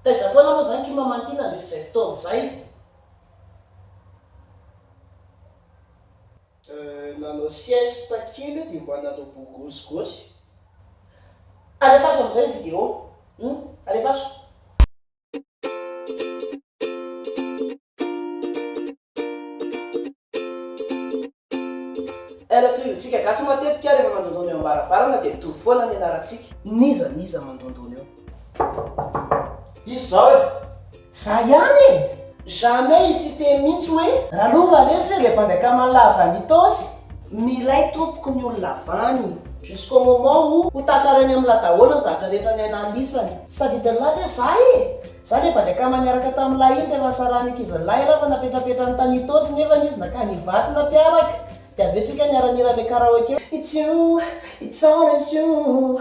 Taiza foana moa izany Kim aman ty nandritra izay fotoana izay? Nanao sieste kely dia mba nanao bogosy-gosy. Alefaso amin'izay ny vidéo. Hum, alefaso. Ela toy ny tsika gasy matetika rehefa mandondona eo ambaravarana dia mitovy foana ny anarantsika. N'iza n'iza mandondona eo. Izy zao e! Za ihany e! Jamais i Siteny mintsy hoe. Ralova lesy le mpandray kama lava ny tosy. Milay tompoko ny olona avany. Jusqu'au moment où ho tantarainy amin'ny la daholo ny zavatra rehetra nianalisany. Sady de là ve za e! Za le mpandray kama niaraka tamin'ny lahy iny rehefa sarahany ankizy lahy lahy fa napetrapetrany tany Itaosy nefany izy nakany Ivato nampiaraka de avy eo tsika niara-nihira le karaoke hoe It's you, it's always you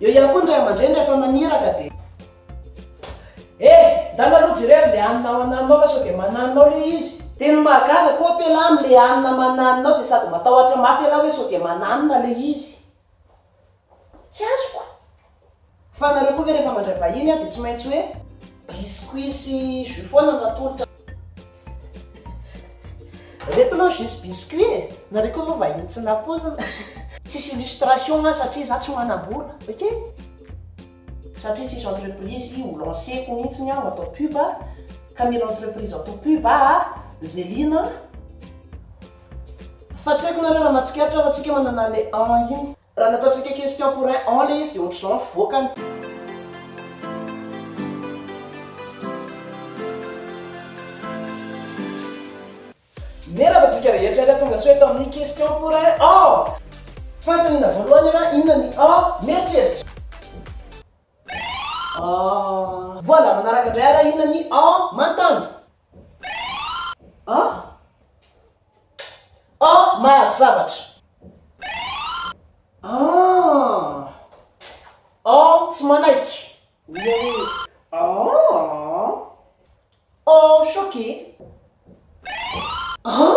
Eo ihany koa ny ray aman-dreny rehefa maniraka dia. Eh! Ndana aloha jerevy le anona ao ananonao fa sao dia mananinao le izy. Dia ny mahagaga koa ape lahy amin le anona mananinao dia sady matahotra mafy ialahy hoe sao dia mananona le izy. Tsy azoko. Fa anareo koa ve rehefa mandray vahiny dia tsy maintsy hoe biscuits sy jus foana no atolotra. Reto aloha juste biscuit e! Nareo koa moa vahiny tsy nampoizina. Tsisy illustration aho satria za tsy manambola ok. Satria tsisy entreprise ho lanceko mintsiny aho atao pub ka mila entreprise atao pub aa Zelina fa tsy aiko nareo raha matsikaritra fa tsika manana le an iny. Raha ny ataontsika question pour un an ilay izy dia ohatr'izao ny fivoakany. Miarahaba antsika rehetra ary tonga soa eto amin'ny question pour un an! Fanontaniana voalohany raha inona ny an? Mieritreritra. Voilà, manaraka indray ara inona ny en mantany? An? En mahazo zavatra. An? En tsy manaiky. En choqué. An?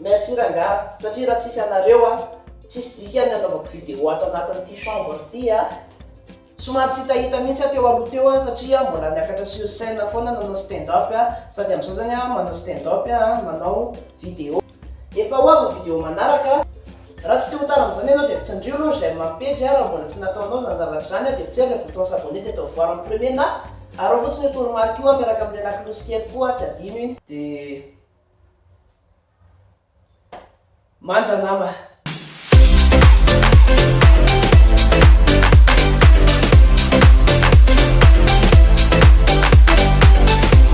Merci rangaha satria raha tsisy anareo a tsisy dikany ny anaovako vidéo ato anatin'ity chambre ity a! Somary tsy hitahita mihitsy aho teo aloha teo a satria mbola niakatra sur scène foana nanao stand up a! Sady amin'izao zany aho manao stand up a manao vidéo. Efa ho avy ny vidéo manaraka a! Raha tsy te ho tara amin'izany ianao dia tsindrio aloha ny j'aime amin'ny pejy a raha mbola tsy nataonao izany zavatra izany a dia potsery ilay bouton s'abonner dia atao voir en premier na araho fotsiny io toromarika io a miaraka amin'ilay lakolosy kely koa tsy adino iny. Dia Manja nama.